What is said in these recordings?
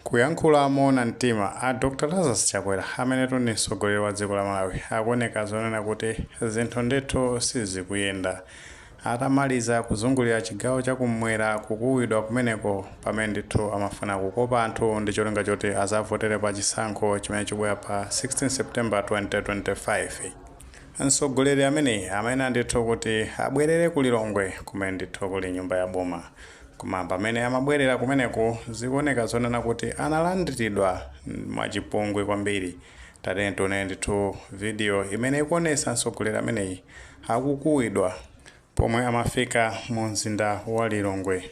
Kuyankhula moona mtima, a Dr Lazarus Chakwera amenetu ndi mtsogoleri wa dziko la Malawi akuoneka zoonena kuti zinthu ndithu sizikuyenda atamaliza kuzungulira chigawo cha kummwera kukuwidwa kumeneko pamene ndithu amafuna kukopa anthu ndi cholinga choti azavotere pa chisankho chimene chikubwera pa 16 September 2025. Mtsogoleri ameneyi amayenera ndithu kuti abwerere ku Lilongwe kumene ndithu kuli nyumba ya boma Koma pamene amabwerera kumeneko, zikuoneka zonena kuti analandiridwa mwachipongwe kwambiri. Tatiyeni tione ndithu video imene ikuonetsa mtsogoleri ameneyi akukuwidwa pomwe amafika mu mzinda wa Lilongwe.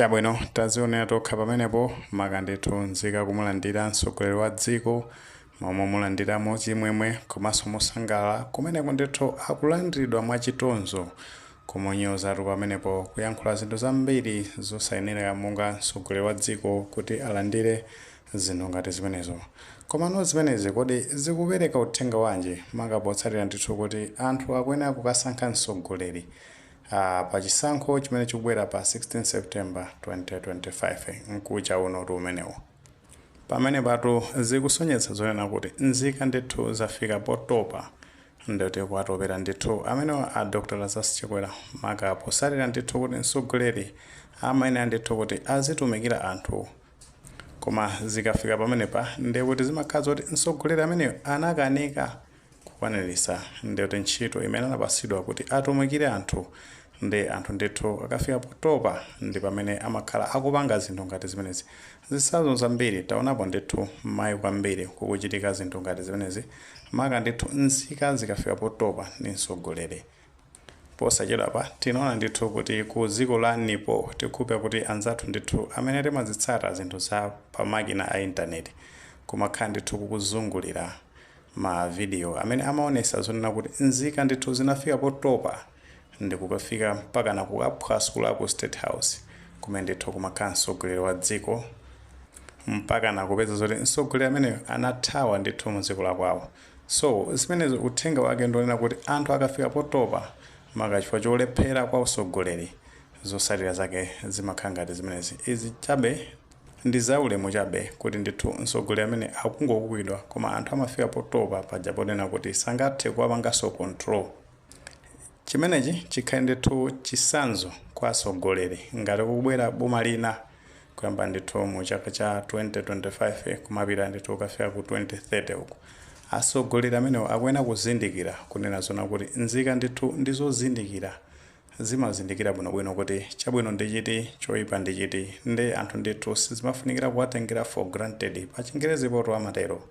chabwino tazionera tokha pamenepo maka ndithu nzika kumulandira mtsogoleri wa dziko m'malo momulandira mwachimwemwe komanso mosangalala, kumeneko ndithu akulandiridwa mwa chitonzo, kumunyozatu pamenepo, kuyankhula zinthu zambiri zosayenera monga mtsogoleri wa dziko kuti alandire zinthu ngati zimenezo. Komano zimenezi kodi zikupereka uthenga wanji maka potsatira ndithu kuti anthu akuyenera kukasankha mtsogoleri pa chisankho chimene chikubwera pa 16 September 2025? Mkucha unotu umenewo. Pamenepatu zikusonyetsa zonena kuti nzika ndithu zafika potopa ndikuwatopera ndithu amenewa a Dr Lazarus Chakwera maka potsatira ndithu kuti mtsogoleri amayenera ndithu kuti azitumikira anthu koma zikafika pamenepa ndekuti zimakhala zoti mtsogoleri ameneyo anakanika kukwaniritsa ndithu ntchito imene anapatsidwa kuti atumikire anthu ndi anthu ndithu akafika potopa ndi pamene amakhala akupanga zinthu ngati zimenezi zitsanzo zambiri taonapo ndithu mmaiko ambiri kukuchitika zinthu ngati zimenezi maka ndithu nzika zikafika potopa ndi mtsogoleri Posachedwapa tinaona ndithu kuti ku dziko la Nepal tikukhulupira kuti anzathu ndithu amene timadzitsata zinthu za pa makina a intaneti kumakhala ndithu kukuzungulira ma video amene amaonesa zonena kuti nzika ndithu zinafika potopa ndikukafika mpakana kukaphwasula ku state house kumene ndithu kumakhala mtsogoleri wa dziko mpakana kupeza zoti mtsogoleri ameneyo anathawa ndithu mdziko la kwawo. So zimenezo uthenga wake ndi onena kuti anthu akafika potopa maka chifukwa cholephera kwa usogoleri zotsatira zake zimakhala ngati zimenezi. Izi chabe ndi za ulemu chabe kuti ndithu msogoleri amene akungokuwidwa koma anthu amafika potopa paja ponena kuti sangathe kuwapanganso control. Chimenechi chikhale ndithu chitsanzo kwa atsogoleri ngati kubwera boma lina kuyambira ndithu mu chaka cha 2025 kumapita ndithu kukafika ku 2030 uku. Atsogoleri amenewo akuyenera kuzindikira kunena zoona kuti nzika ndithu ndi zozindikira zimazindikira bwinobwino kuti chabwino ndi chiti choipa ndi chiti nde anthu ndithu sizimafunikira kuwatengera for granted pa chingerezi poto amatero.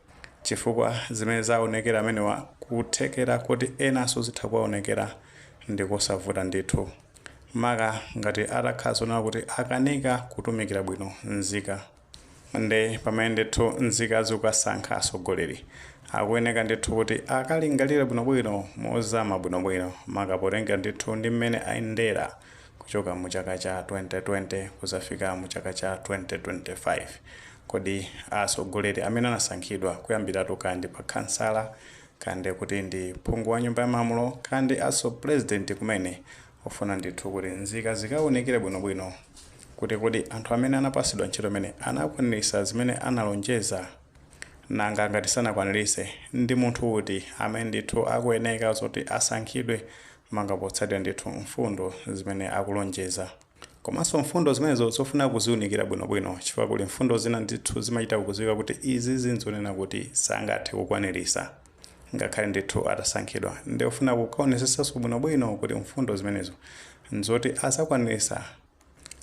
Chifukwa zimene zaonekera amenewa kuthekera koti enanso zitha kuwaonekera ndikosavuta ndithu maka ngati atakhala zonena kuti akanika kutumikira bwino nzika nde pamene ndithu nzika zikukasankha atsogoleri akuyeneka ndithu kuti akalingalire bwinobwino mozama bwinobwino maka potengera ndithu ndi mmene ayendera kuchoka mu chaka cha 2020 kuzafika mu chaka cha 2025. Kodi atsogoleri amene anasankhidwa kuyambiratu kaya ndi pa khansala, kaya ndi kuti ndi phungu wa nyumba ya malamulo, kaya ndi atsogoleri president kumene ofuna ndithu kuti nzika zikaunikire bwino bwino kuti kodi anthu amene anapatsidwa ntchito amene anakwaniritsa zimene analonjeza? Nanga ngati sanakwaniritse ndi munthu uti amene ndithu akuyeneka zoti asankhidwe maka potsatira ndithu mfundo zimene akulonjeza komanso mfundo zimenezo zofuna kuziunikira bwinobwino chifukwa kuli mfundo zina ndithu zimachita kudziwika kuti izizi nzonena kuti sangathe kukwanirisa ngakhale ndithu atasankhidwa nde ofuna kukaonesetsanso bwinobwino kuti mfundo zimenezo nzoti azakwanirisa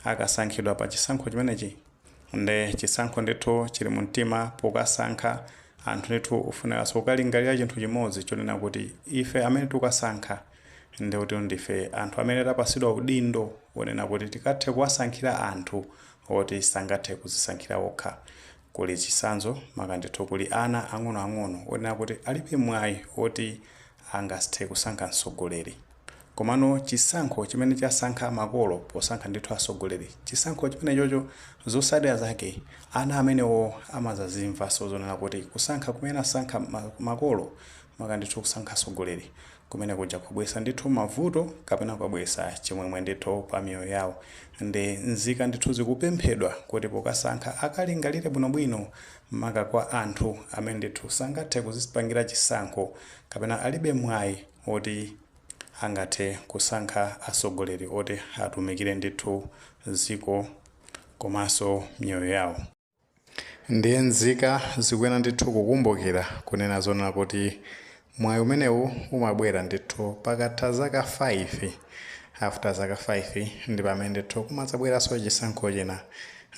akasankhidwa pa chisankho chimenechi nde chisankho ndithu chili mu mtima pokasankha anthu ndithu ofunikanso kukalingalira chinthu chimodzi chonena kuti ife amene tikukasankha nde kuti ndife anthu amene tapasidwa udindo wonena kuti tikathe kuwasankhira anthu oti sangathe kuzisankhira okha Kuli chitsanzo maka ndithu kuli ana ang'ono ang'ono onena kuti alibe mwayi oti angathe kusankha mtsogoleri. Komano chisankho chimene chasankha makolo posankha ndithu atsogoleri chisankho chimenechocho zotsatira zake ana amenewo amazazimvanso zonena kuti kusankha kumene anasankha makolo maka ndithu kusankha atsogoleri Kumene kuja kwabwesa ndithu mavuto kapena kwabwesa chimwemwe ndithu pa miyoyo yawo nde nzika ndithu zikupemphedwa kuti pokasankha akalingalire bwino bwino maka kwa anthu amene ndithu sangathe kuzipangira chisankho kapena alibe mwayi oti angathe kusankha asogoleri oti atumikire ndithu ziko komanso miyoyo yawo. Ndiye nzika zikuyenera ndithu kukumbukira kunena zoona kuti mwayi umenewu umabwera ndithu pakatha zaka 5, after zaka 5 ndi pamene ndithu kumadzabweranso chisankho china.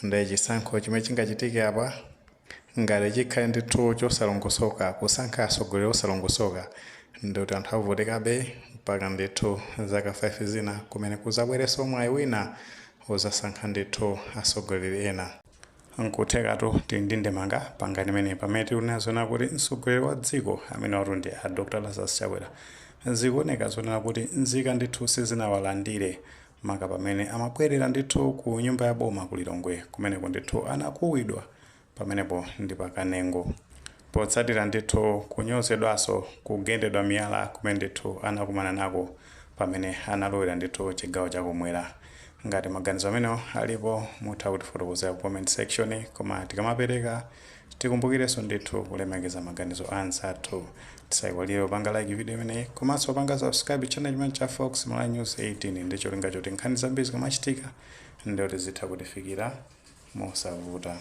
Ndiye chisankho chimene chingachitike apa ngati chikhale ndithu chosalongosoka, kusankha atsogoleri osalongosoka ndiye kuti anthu avutikabe mpaka ndithu zaka 5 zina kumene kudzabwerenso mwayi wina wozasankha ndithu asogoleri ena. Nkuthekatu tili ndi ndemanga pa ngani imeneyi pamene tikunena zoona kuti mtsogoleri wa dziko amenewatu ndi a Dr Lazarus Chakwera zikuoneka zoona kuti nzika ndithu sizinawalandire maka pamene amabwelera ndithu ku nyumba ya boma ku Lilongwe kumeneko ndithu anakuwidwa pamenepo ndi pa Kanengo. Potsatira ndithu kunyozedwaso kugendedwa miyala kumene ndithu anakumana nako pamene analowera ndithu chigawo cha kumwera. Ngati maganizo amenewo alipo mutha kutifotokozera ku comment section koma tikamapereka tikumbukireso ndithu kulemekeza maganizo a anzathu. Tisaiwale kupanga like video imeneyi komaso kupanga subscribe channel chimenechi cha Fox Malawi News 18 ndicholinga choti nkhani zambiri zikamachitika ndithu zitha kutifikira mosavuta.